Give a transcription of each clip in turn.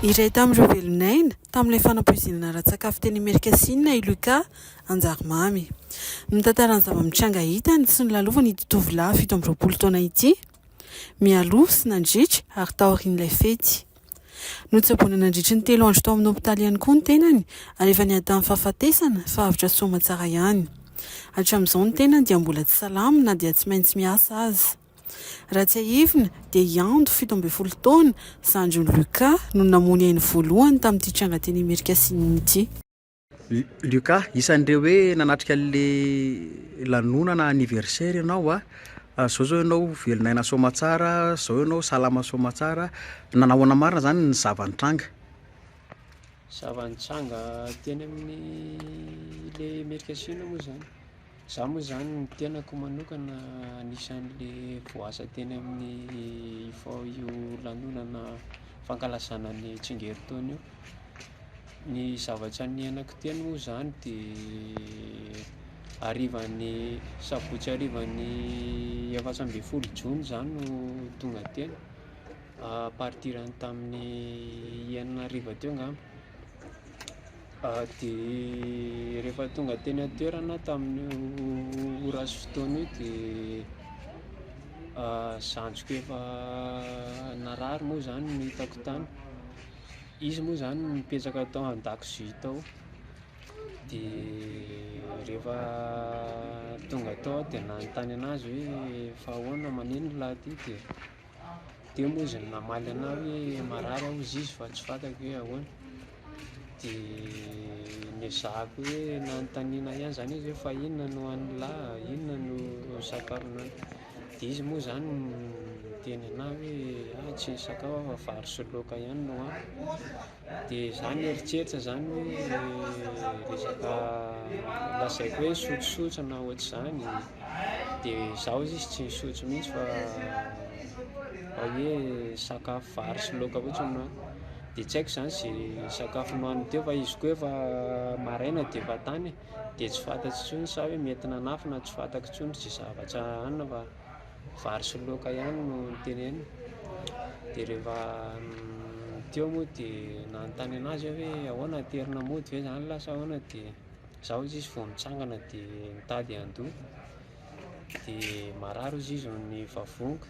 Iray tamin'ireo velon'aina tamin'ilay fanampoizinana ara-tsakafo teny Amerika Sinina i Luca Anjarimamy. Mitantara ny zava-mitranga hitany sy nolalovan'ny ity tovolahy fito amby roapolo taona ity, mialoha sy nandritra ary taorian'ilay fety. Notsaboina nandritry ny telo andro tao amin'ny hopitaly ihany koa ny tenany ary efa niadan'ny fahafatesana fa avotra soa aman-tsara ihany. Hatramin'izao ny tenany dia mbola tsy salama na dia tsy maintsy miasa aza. Raha tsiahivina dia i Ando, fito ambin'ny folo taona, zandrin'i Luca, no namono ainy voalohany tamin'ity tranga teny Amerika Asinina ity. Luca, isan'ireo hoe nanatrika an'ilay lanonana anniversaire ianao a, izao izao ianao velon'aina soamatsara, izao ianao salama soamatsara, nanao ahoana marina izany ny zava-nitranga? Zava-nitranga teny amin'ilay Amerika Asinina moa izany. Za moa zany ny tenako manokana anisan'le voaasa teny amin'ny IFAO io lanonana fankalazana ny tsingerin-taona io, ny zavatra niainako teny moa zany de harivan'ny sabotsy harivan'ny efatra ambin'ny folo jona zany no tonga teny à partir ny tamin'ny enina hariva teo ngamba. Dia rehefa tonga teny an-toerana aho tamin'io ora sy fotoana io dia zandriko efa narary moa zany no hitako tany, izy moa zany nipetraka tao an-dakozia tao de rehefa tonga tao aho de nanontany anazy hoe fa ahoana, manino lahy ty? dia eo moa izy no namaly ana hoe marary aho hozy izy fa tsy fantako hoe ahoana dia nezahako hoe nanontaniana ihany zany izy hoe fa inona no an'la inona no sakafo an'la dia izy moa zany niteny ana hoe ah tsy nisakafo aho fa vary sy laoka ihany no hohaniko dia za nieritreritra zany hoe resaka lazaiko hoe sotsotsotra na ohatr'izany de zaho izy tsy nisotro mihitsy fa fa hoe sakafo vary sy laoka fotsiny no nohaniko de tsy haiko zany ze sakafo nohaniny teo fa izy koa efa maraina de efa tany e de tsy fantatro intsony sa hoe mety nanafy na tsy fantako intsony ze zavatra hanina fa. vary sy laoka ihany no noteneniny dia rehefa teo moa dia nanontany an'azy aho hoe ahoana aterina mody ve zany lahy sa ahoana dia zao hozy izy vao mitsangana dia mitady handoha dia marary hozy izy ny vavoniko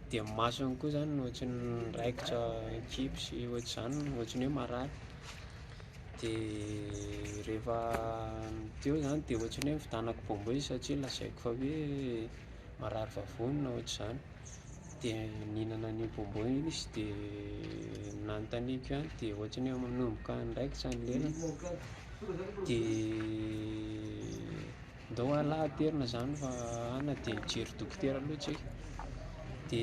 dia ny masony koa zany no ohatry ny raikitra an-kibo sy ohatr'izany ohatry ny hoe marary de rehefa teo zany de ohatrany hoe nividianako bonbon izy satria lazaiko fa hoe marary vavony na ohatr'izany, de nihinana an'io bonbon io izy de nanontaniako ihany de ohatrany hoe manomboka andraikitra ny lelany de. Ndao anlah aterina zany fa ana dia hijery dokotera aloha tsika dia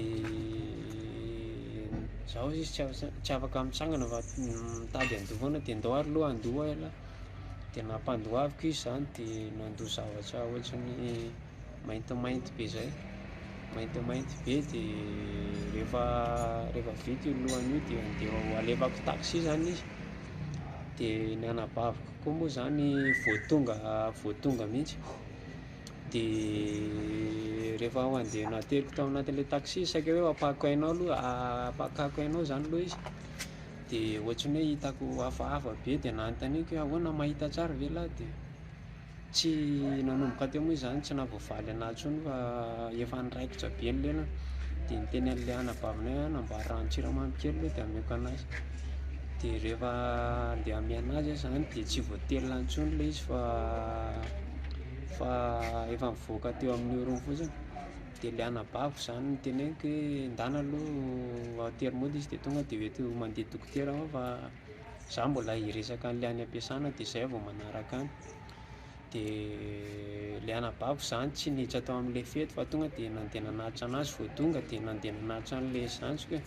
zaho izy tsy afaka tsy afaka mitsangana fa mitady handoa foana dia ndao ary aloha handoa ialahy dia nampandoaviko izy zany dia nandoa zavatra ohatran'ny maintimainty be zay maintimainty be dia rehefa rehefa vita io lohany io dia ndeha ho alefako taxi zany izy dia ny anabaviko Koa moa zany vao tonga vao tonga mihitsy de rehefa handeha nateliko tao anatin'le taxi saika hoe apahako ainao aloha apakako ainao zany aloha izy de ohatry ny hoe hitako hafahafa be de nanontaniako hoe ahoana mahita tsara ve lahy de Tsy nanomboka teo moa izany, tsy nahavoavaly an'ahy intsony fa efa niraikitra be ny lelany dia niteny an'ilay anabavinay aho namboary ranon-tsiramamy kely aloha dia hameko an'azy dia rehefa andeha hamehy an'azy aho izany dia tsy voatelina intsony ilay izy fa fa efa nivoaka teo amin'ny orony fotsiny dia ilay anabaviko izany no teneniko hoe ndana aloha atero mody izy dia tonga dia hoe mandeha dokotera aho fa za mbola hiresaka an'le any am-piasana de zay vao manaraka any, de le anabaviko zany tsy niditra tao am'le fety fa tonga de nandeha nanatitra anazy vao tonga de nandeha nanatitra an'le zandriko e,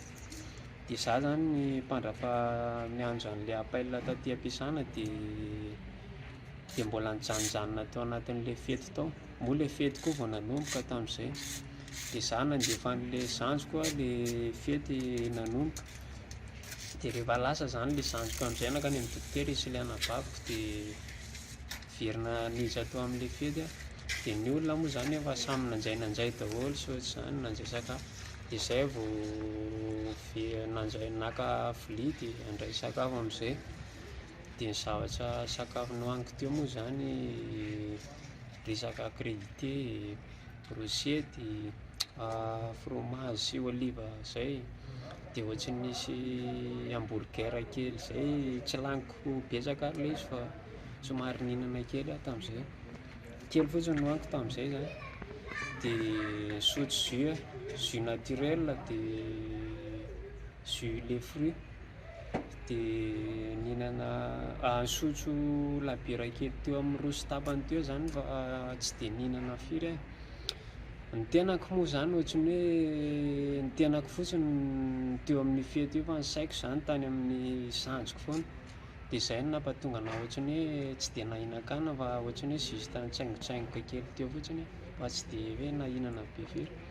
de za zany ny mpandrafa miandry an'le appel taty am-piasana de de mbola nijanojanona tao anatin'le fety tao, moa le fety koa vao nanomboka tam'zay, de za nandefa an'le zandriko le fety nanomboka. dia rehefa lasa izany ilay zandriko amin'izay nankany amin'ny dokotera izy sy ilay anabaviko dia niverina niditra tao amin'ilay fety aho, dia ny olona moa izany efa samy nanjay nanjay daholo sy ohatr'izany, nanjay sakafo, dia izay aho vao ve- nanjay naka vilia dia handray sakafo amin'izay, dia ny zavatra sakafo nohaniko teo moa izany resaka crudité. brôsiety, frômazy sy ôliva zay, de ôtsin'ny misy hamburger kely zay tsy laniko betsaka ary le izy fa somary nihignana kely ah tamizay, kely fotsiny nohaniko tamizay zany, de nisotro jus, jus naturel de. jus le fruit de nihinana ah nisotro labiera kely teo amin'ny roa sy tapany teo zany fa tsy de nihinana firy ah, ny tenako moa zany ohatran'ny hoe ny tenako fotsiny no teo amin'ny fety io fa ny saiko zany tany amin'ny sanjiko foana de zay no nampatonga anah ohatran'ny hoe tsy de nahinan-kanina fa ohatran'ny hoe juste nitsaingotsaingoka kely teo fotsiny fa tsy de hoe nahinana be firy.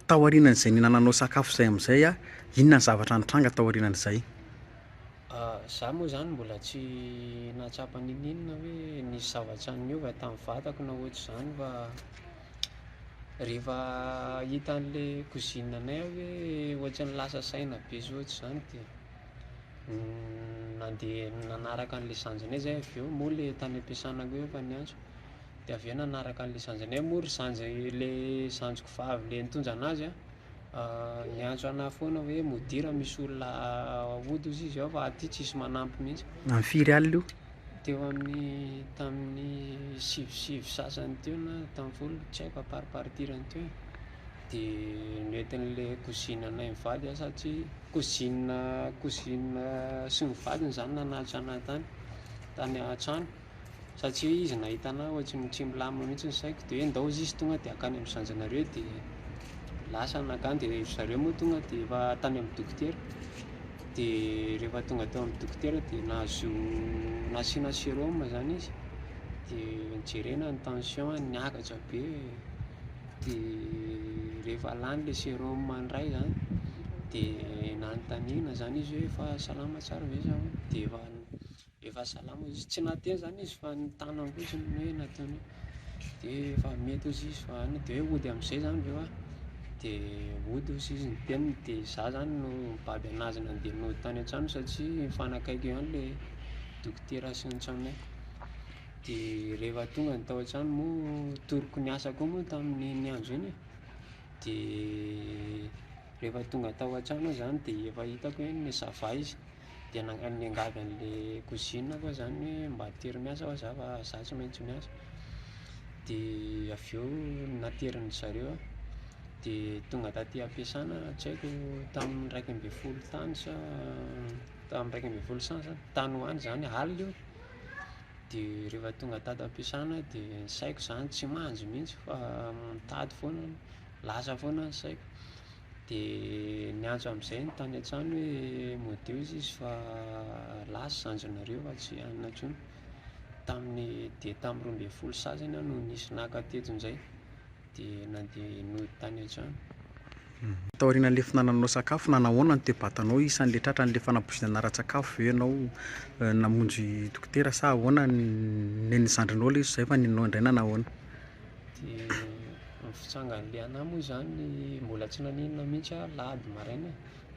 Tao aorianan'izay nihinananao sakafo izay amin'izay a, inona ny zavatra nitranga tao aorianan'izay? Za moa zany mbola tsy nahatsapa n'inon'inona hoe nisy zavatra niova tamin'ny vatako na ohatr'izany fa rehefa hitan'le cousine anay aho hoe ohatran'ny lasa saina be sy ohatr'izany dia nandeha nanaraka an'le zandrinay zay avy eo moa le tany am-piasana koa efa niantso. de avy eo nanaraka an'le sanjany hoe moa ry sanjy le sanjiko vavy le nitondra anazy an, niantso ana foana hoe modira misy olona hody ozy izy ao fa aty tsisy manampy mihitsy, Am firy alina io? teo amin'ny tamin'ny sivy sivy sasany teo na tamin'ny folo tsy haiko à part partir any teo e, de noentin'le cousine anay mivady an sa tsy cousine cousine sy ny vadiny zany nanatitra ana tany tany an-trano. satria hoe izy nahita anah ohatriny tsy milamina mihitsy ny saiko dia hoe ndao ozy izy tonga dia akany amin'ny zanjanareo dia lasa nakany dia ry zareo moa tonga dia efa tany amin'ny dokotera dia rehefa tonga teo amin'ny dokotera dia nahazo nasiana sérum zany izy dia jerena ny tension-ny niakatra be dia rehefa lany ilay sérum indray zany dia nanontaniana zany izy hoe efa salama tsara ve zah hono dia efa Efa salama izy, tsy nahateny zany izy fa ny tanany fotsiny no hoe nataony de efa mety ozy izy fa any de hoe hody amizay zany reo a, de hody ozy izy ny teniny de za zany no mibaby anazy nandeha nody tany an-trano satria mifanakaiky eo ihany le dokotera sy ny tranonay, de rehefa tonga ny tao an-trano moa toroko niasa koa moa tamin'iny andro iny e, de rehefa tonga tao an-trano aho zany de efa hitako hoe ça va izy. dia nangady niangavy an'ilay cousine aho zany hoe mba atery miasa aho za fa za tsy maintsy miasa dia avy eo naterin'ny zareo aho dia tonga taty am-piasana tsy haiko tamin'ny iraika ambin'ny folo tany sa tamin'ny iraika ambin'ny folo saina zany tany ho any zany alina io dia rehefa tonga tato am-piasana aho dia ny saiko zany tsy mandry mihitsy fa mitady foana lasa foana ny saiko Dia niantso amin'izay ny tany an-trano hoe madio izy izy fa lahy sy zandrinareo fa tsy hanina intsony. Tamin'ny dia tamin'ny roa ambin'ny folo sasany aho no nisy naka teto indray dia nandeha nody tany an-trano. Taorian'ilay fihinananao sakafo na nahoana ny toe-batanao? Isan'ilay tratra an'ilay fanabozonana ara-tsakafo ve ianao? Namonjy dokotera sa ahoana? Nen'ny zandrinao ilay izy izay fa nenao indray na nahoana? dia ny fitsangan'ilay anah moa zany mbola tsy nanenina mihitsy aho lahady maraina e,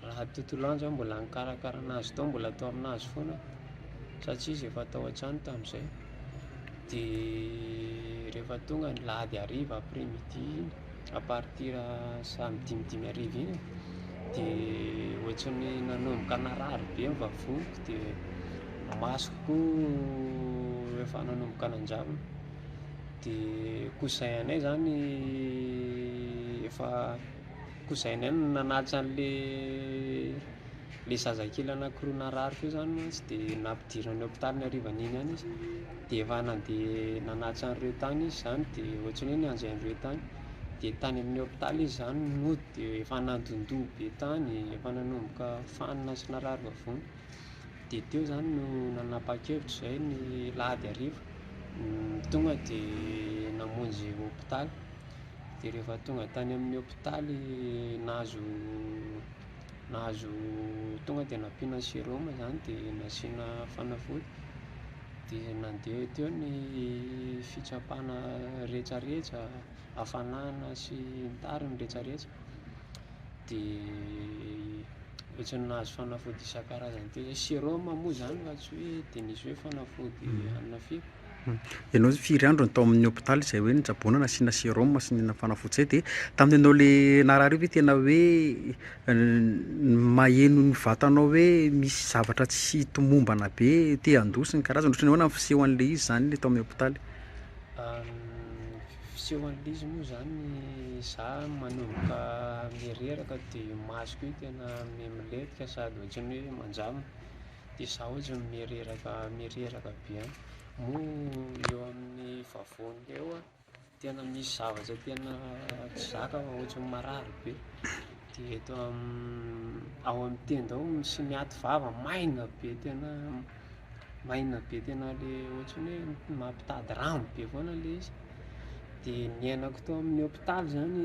lahady tontolo andro aho mbola nikarakara an'azy tao mbola tao amin'azy foana satsia izy efa tao an-trano tamin'izay, dia rehefa tonga ny lahady hariva après midi iny à partir samedi midimy hariva iny dia ohatran'ny nanomboka narary be ny vavoniko dia ny masoko koa efa nanomboka nanjavona. dia cousin-nay zany efa cousin-nay no nanaja an'le le zazakely anankiroa narary teo zany mantsy dia nampidirany hôpitaly ny harivan'iny ihany izy dia efa nandeha nanaja an'ireo tany izy zany dia ohatran'ny hoe nianjay an'ireo tany dia tany amin'ny hôpitaly izy zany no nody dia efa nandondoha be tany, efa nanomboka fanina sy narary vavony. dia teo izany no nanapa-kevitra izay ny alahady hariva, tonga dia namonjy hopitaly, dia rehefa tonga tany amin'ny hopitaly nahazo nahazo tonga dia nampiana sérum izany dia nasiana fanafody, dia nandeha teo ny fitsapana rehetrarehetra, hafanana sy ny tariny rehetrarehetra. dia ohatran'ny nahazo fanafody isan-karazany teo zay, sérum moa zany fa tsy hoe dia nisy hoe fanafody hanina feo. Hmm. Ianao firy andro no tao amin'ny hôpitaly izay hoe nitsaboana nasiana sérum sy nina fanafody izay dia tamin'ny anao le narary io ve tena hoe maheno ny vatanao hoe misy zavatra tsy tomombana be te handoa sy ny karazany ohatran'ny ahoana ny fisehoan'ilay izy izany ilay tao amin'ny hôpitaly? Fisehon'ilay izy moa zany za manomboka mireraka de masoko io tena mimletika sady ohatran'ny hoe manjambo de za ohatran'ny mireraka mireraka be any, moa eo amin'ny vavony eo an tena misy zavatra tena tsy zaka fa ohatran'ny marary be de eto amin'ny ao amin'ny tenda ao misy miaty vava maina be tena. maina be tena ilay ohatran'ny hoe mampitady rano be foana ilay izy, dia niainako tao amin'ny hopitaly izany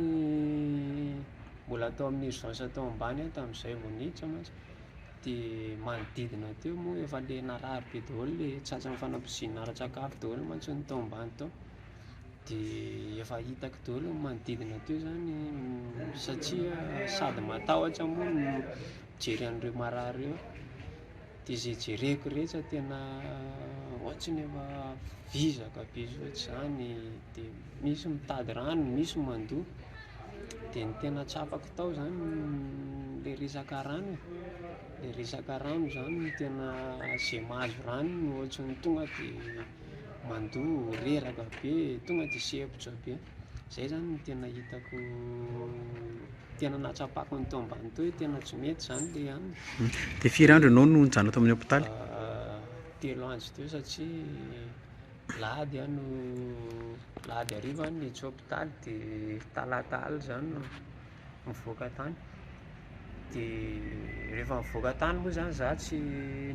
mbola tao amin'ny urgence tao ambany aho tamin'izay vao niditra mantsy, dia manodidina teo moa efa ilay narary be daholo ilay tratran'ny fanambozina ara-tsakafo daholo mantsy ny tao ambany tao, dia efa hitako daholo ny manodidina teo izany satria sady matahotra moa no mijery an'ireo marary ireo. de zay jereko rehetra tena ohatriny efa vizaka be ohatry zany de misy mitady rano misy mandoha de ny tena tsapako tao zany le resaka rano e, le resaka rano zany no tena zay mahazo rano no ohatry ny tonga de mandoa reraka be tonga de sempotra be. Izay izany no tena hitako tena nahatsapako ny teo ambany teo hoe tena tsy mety izany ilay aminy. Hmm. Dia firy andro ianao no nijanona tao amin'ny hôpitaly? Ah, telo andro teo satria lahady aho no lahady hariva aho no niditra hôpitaly dia talata alina izany no mivoaka tany dia rehefa mivoaka tany moa zany za tsy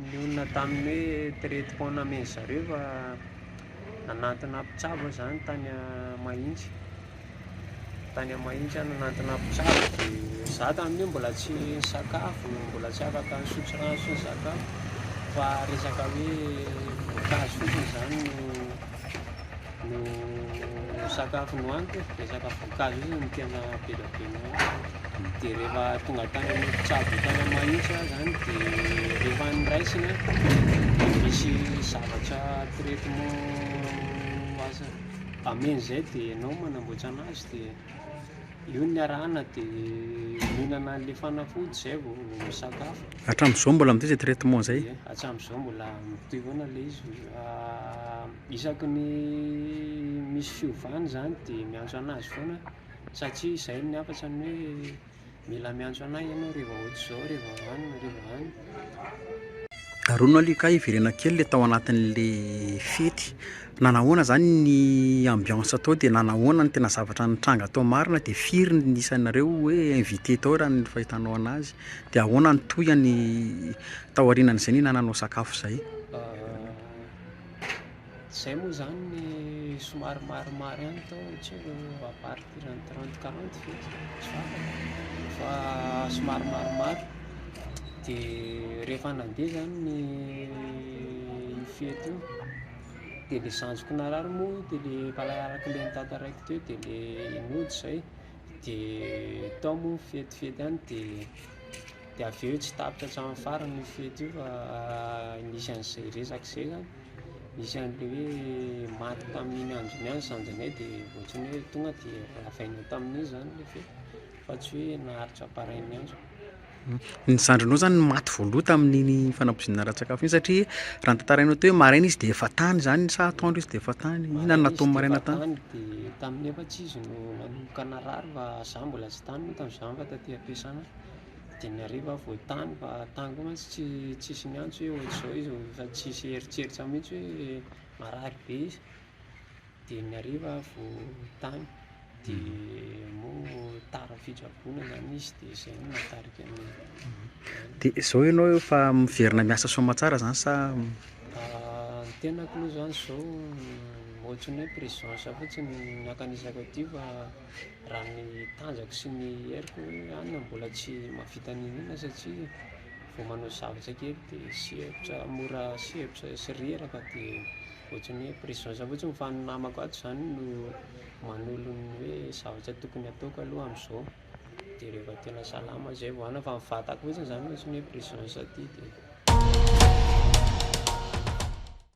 nionona tamin'ny hoe traite pont namen'ny zareo fa nanantona mpitsabo aho zany tany Mahitsy tany Mahitsy aho nanantona mpitsabo dia za tamin'io mbola tsy nisakafo mbola tsy afaka nisotro rano sy nisakafo fa resaka hoe voankazo fotsiny zany no no sakafo nohaniko dia sakafo voankazo izy no tena be dia be nohaniko dia rehefa tonga tany amin'ny mpitsabo tany amin'ny mahitsy aho zany dia rehefa niraisina misy zavatra traitement azo ameny izay dia ianao manamboatra an'azy dia Eo ny arahana dia mihinana an'ilay fanafody izay vao misakafo. Hatramin'izao mbola amin'ity izay traitement izay? Ie, hatramin'izao mbola mitohy foana ilay izy. Ah, isaky ny misy fiovana izany dia miantso an'azy foana satria izay ny hafatra ny hoe mila miantso an'ahy ianao rehefa ohatr'izao, rehefa any, rehefa any. Arono aloha kay hiverena kely le tao anatin'le fety, nanahoana zany ny ambiance tao de nanahoana ny tena zavatra nitranga tao marina de firy ny isanareo hoe invité tao raha ny fahitanao anazy de ahoana ny tohiny tao aorianan'izay nihinananao sakafo zay? Zay moa zany ny somary marimary any tao tsy haiko a partir any trente quarante ve tsy fantako fa somary marimary de rehefa nandeha zany ny fety io de le zandriko narary moa de le mpanarak'i le nitantara raiky teo de le nody zay de tao moa ny fetifety any de Dia avy eo tsy tapitra hatramin'ny farany io fety io fa nisy an'izay resaka izay zany, nisy an'ilay hoe maty tamin'iny andro iny ihany zandrinay dia ohatran'ny hoe tonga dia ravainao tamin'iny zany ilay fety fa tsy hoe naharitra pareil miandry. Ny zandrinao zany no maty voaloha tamin'iny fanampoizinana ara-tsakafo iny satria raha ny tantarainao teo hoe maraina izy dia efa tany zany sa atoandro izy dia efa tany, inona no nataony maraina tany? Tany dia tamin'ny efa-tsy izy no nanomboka narary fa za mbola tsy tany moa tamin'izany fa taty am-piasana. dimy arivo aho vao tany fa tany koa mantsy tsy tsisy niantso hoe ohatr'izao izy fa tsisy eritreritro mihitsy hoe marary be izy, dimy arivo aho vao tany dia moa tara fitsaboana izany izy dia izay no nahatarika ny Dia izao ianao efa miverina miasa soamantsara izany sa? Ah, ny tenako aloha izany izao ohatry ny hoe presence fotsiny no ankanesako aty fa. raha ny tanjako sy ny heriko ihany mbola tsy mahavita niniana satria vao manao zavatra kely dia sempotra mora sempotra sy reraka dia ohatran'ny hoe pression zany fotsiny fa ny namako ato zany no manolo ny hoe zavatra tokony ataoko aloha amizao dia rehefa tena salama zay vao hanao fa ny vatako fotsiny zany ohatran'ny hoe pression sady dia